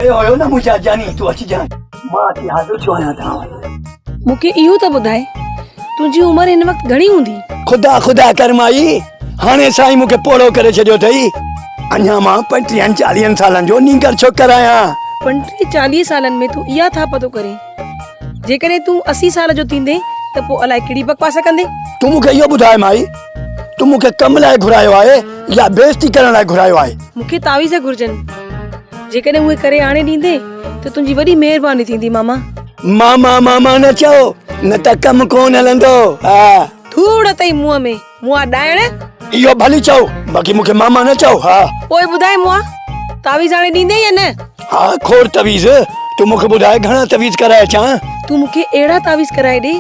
اي هيو نه منهنجا جاني تون اچجانء. مان اچي حاضر ٿيو آهيان توهان وٽ. مون کي اهو ته ٻڌاء تنهنجي عمر هن وقت گهڻي هوندي؟ خدا خدا ڪر مائي، هاڻي سائين مون کي پوڙهو ڪري ڇڏيو اٿئي. اڃا مان پنٽيهن چاليهن سالن جو نينگر ڇوڪر آهيان. پنٽيهن چاليهن سالن ۾ تون اها ٿاپهه ٿو ڪرين. جيڪڏهن تون اسي سال جو ٿيندين ته پوء الائي ڪهڙي بڪواس ڪندين. تون مون کي اهو ٻڌاء مائي، تون مون کي ڪم لاء گهرايو آهي يا بي عزتي ڪرڻ لاء گهرايو آهي؟ مون کي تعويذ گهرجن. جيڪڏهن اهي ڪري آڻي ڏيندين ته تنهنجي وڏي مهرباني ٿيندي ماما. ماما ماما نه چئو نه ته ڪم ڪون هلندو ها. ڌوڙ اٿئي منهن ۾ مئا ڏائڻ. اهو ڀلي چئو باقي مون کي ماما نه چئو ها. پوء ٻڌاء مئا تعويذ آڻي ڏيندين يا نه. ها کوڙ تعويذ تون مون کي ٻڌاء گهڻا تعويذ ڪرائي اچان. تون مون کي اهڙا تعويذ ڪرائي ڏي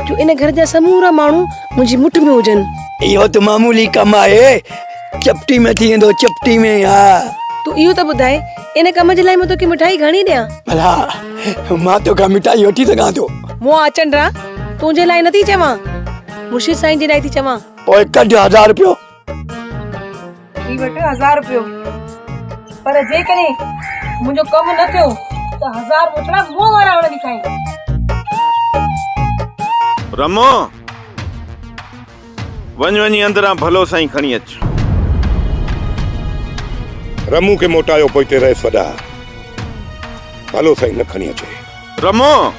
جو ان گهر جا سمورا ماڻهو منهنجي مٺ ۾ هجن. اهو ته معمولي ڪم آهي. چپٽي ۾ ٿي ويندو چپٽي ۾ ها تون اهو ته ٻڌاء ان ڪم جي لاء مان توکي مٺائي گهڻي ڏيان ڀلا مان توکان مٺائي وٺي سگهان ٿو مون آچنڊ را تنهنجي لاء نٿي چوان مرشد سائين جي لاء ٿي چوان پوء ڪڍ هزار رپيو هي وٺ هزار رپيو پر جيڪڏهن منهنجو ڪم نه ٿيو ته هزار مٺڙا مون وارا هڻندي کائين رمو وڃ وڃي اندران ڀلو سائين کڻي اچ. رمون کي موٽايو پوئتي رئيس وڏا ڀلو سائين نه کڻي اچي. رمون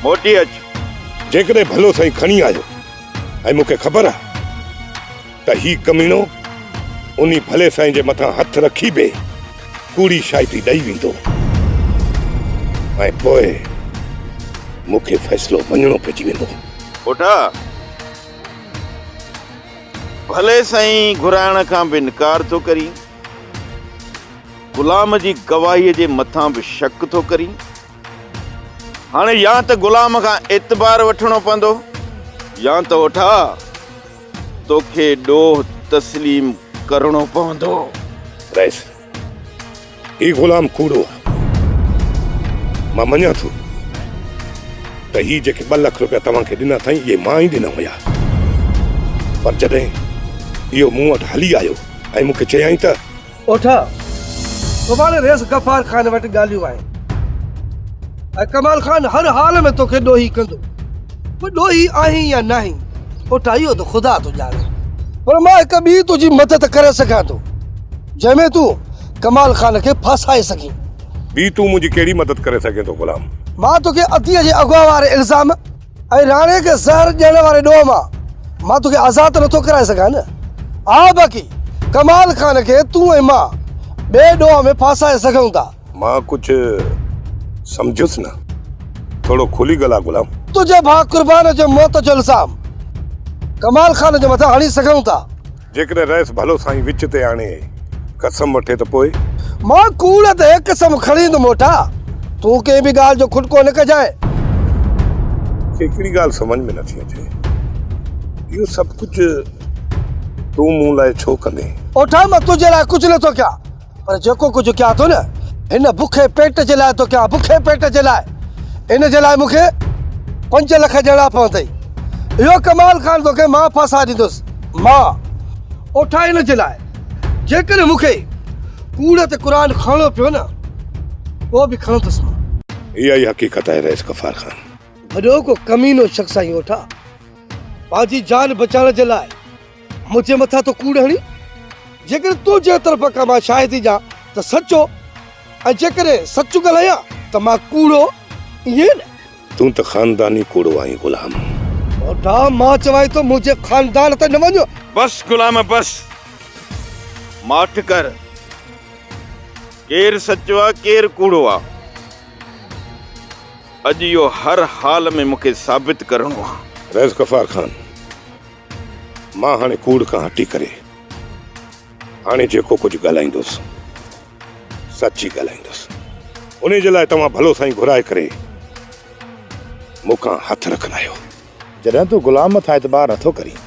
موٽي اچ. جيڪڏهن ڀلو سائين کڻي آيو ۽ مون کي خبر آ ته هي ڪميڻو انهي ڀلي سائين جي مٿان هٿ رکي به ڪوڙي شاهدي ڏئي ويندو ۽ پوء مون کي فيصلو مڃڻو پئجي ويندو. پوٽا! ڀلي سائين گهرائڻ کان به انڪار ٿو ڪرين، غلام جي گواهيء جي مٿان به شڪ ٿو ڪرين، هاڻي يا ته غلام کان اعتبار وٺڻو پوندو يا ته اوٺا! توکي ڏوهه تسليم ڪرڻو پوندو. رئيس، هي غلام ڪوڙو آ. مان مڃان ٿو ته هي جيڪي ٻه لک رپيا توهان کي ڏنا اٿائين اهي مان ئي ڏنا هيا. پر جڏهن اهو مون وٽ هلي آيو ۽ مون کي چيائين ته. اوٺ سڀاڻي ريس غفار خان وٽ ڳالهيون آهن ۽ ڪمال خان هر حال ۾ توکي ڏوهي ڪندو تون ڏوهي آهين يا ناهين اوٺ اهو ته خدا ٿو ڄاڻي پر مان هڪ ٻي تنهنجي مدد ڪري سگهان ٿو جنهن ۾ تون ڪمال خان کي ڦاسائي سگهين ٻي تون منهنجي ڪهڙي مدد ڪري سگهين ٿو غلام؟ مان توکي عطيه جي اغوا واري الزام. اي راڻي کي زهر ڏيڻ واري ڏوهه مان مان توکي آزاد ته نٿو ڪرائي سگهان نه؟ آء باقي ڪمال خان کي تون ۽ مان ٻئي ڏوهه ۾ ڦاسائي سگهون ٿا. مان ڪجهه سمجهيس نه. ٿورو کلي ڳالهاء غلام. تنهنجي ڀاء قربان جي موت جو الزام ڪمال خان جي مٿان هڻي سگهون ٿا. جيڪڏهن رئيس ڀلو سائين وچ تي آڻي قسم وٺي ته پوء؟ مان ڪوڙ تي قسم کڻي ايندم موٽا. تون ڪنهن به ڳالهه جو کٽڪو نه ڪجانء. هڪڙي ڳالهه سمجهه ۾ نٿي اچي. اهو سڀ ڪجهه تون مون لاء ڇو ڪندين؟ اوٺا مان تنهنجي لاء ڪجهه نٿو ڪيان. پر جيڪو ڪجهه ڪيان ٿو نه، هن بکي پيٽ جي لاء ٿو ڪيان، بکي پيٽ جي لاء. ان جي لاء مون کي پنج لک ڏيڻا پوندئي. اهو ڪمال خان توکي مان ڦاسائي ڏيندس. مان اوٺان ان جي لاء. جيڪڏهن مون کي ڪوڙ تي قرآن کڻڻو پيو نه، پوء به کڻندس مان. اها ئي حقيقت آهي رئيس غفار خان. ڀڏو ڪو ڪمينو شخص آهين اوٺان. پنهنجي جان بچائڻ جي لاء. منهنجي مٿان ٿو ڪوڙ هڻين؟ جيڪڏهن تون جنهن طرف کان مان شاهد هجان ته سچو ۽ جيڪڏهن سچ ڳالهايان ته مان ڪوڙو، ائين نه؟ تون ته خانداني ڪوڙو آهين غلام. ٻوڍا مان چوانء ٿو منهنجي خاندان تي نه وڃ. بس غلام بس. ماٺ ڪر. ڪير سچو آ ڪير ڪوڙو آ. اڄ اهو هر حال ۾ مون کي ثابت ڪرڻو آ. رئيس غفار خان. مان هاڻي ڪوڙ کان هٽي ڪري هاڻي جيڪو ڪجهه ڳالهائيندس سچ ئي ڳالهائيندس. انهي جي لاء توهان ڀلو سائين گهرائي ڪري مون کان هٿ رکرايو. جڏهن تون غلام مٿان اعتبار نٿو ڪرين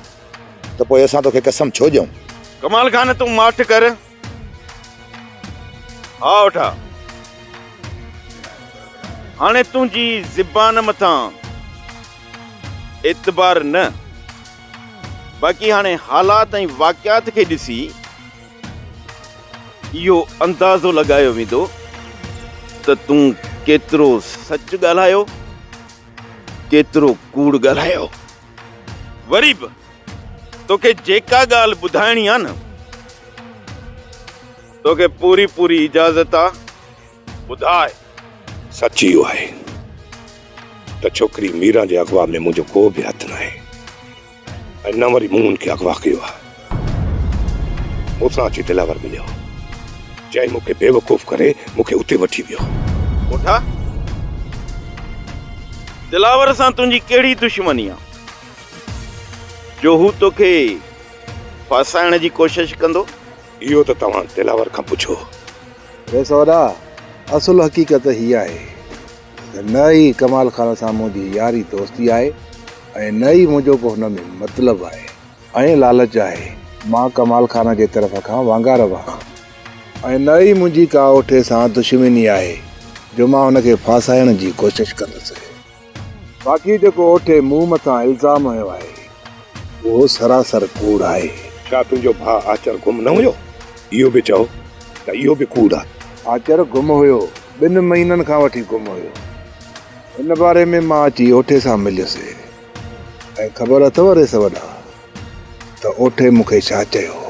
ته پوء اسان توکي قسم ڇو ڏيون؟ ڪمال خان تون ماٺ ڪر. ها وٺا، هاڻي تنهنجي زبان مٿان اعتبار نه، باقي هاڻي حالات ۽ واقعات کي ڏسي اهو اندازو لڳايو ويندو ته تون ڪيترو سچ ڳالهايو، ڪيترو ڪوڙ ڳالهايو. وري به توکي جيڪا ڳالهه ٻڌائڻي آ نه توکي پوري پوري اجازت آ ٻڌاء. سچ اهو آهي ته ڇوڪري ميران جي اغوا ۾ منهنجو ڪو به هٿ ناهي ۽ نه وري مون ان کي اغوا ڪيو آ. مون سان اچي دلاور مليو. چئن مون کي بيوقوف ڪري مون کي اتي وٺي ويو. پوٺا! دلاور سان تنهنجي ڪهڙي دشمني آ، جو هو توکي ڦاسائڻ جي ڪوشش ڪندو؟ اهو ته توهان دلاور کان پڇو. اي سودا! اصل حقيقت هيء آهي ته نه ئي ڪمال خان سان منهنجي ياري دوستي آهي ۽ نه ئي منهنجو ڪو هن ۾ مطلب آهي. ۽ لالچ آهي. مان ڪمال خان جي طرف کان وانگار وهان ۽ نه ئي منهنجي ڪا اوٺي سان دشمني آهي جو مان هن کي ڦاسائڻ جي ڪوشش ڪندس. باقي جيڪو اوٺي مون مٿان الزام هنيو آهي اهو سراسر ڪوڙ آهي. ڇا تنهنجو ڀاء آچر گم نه هيو؟ اهو به چئو ته اهو به ڪوڙ آهي. آچر گم هيو، ٻن مهينن کان وٺي گم هيو. ان باري ۾ مان اچي اوٺي سان مليس. ۽ خبر اٿو ريس وڏا ته اوٺي مون کي ڇا چيو هو.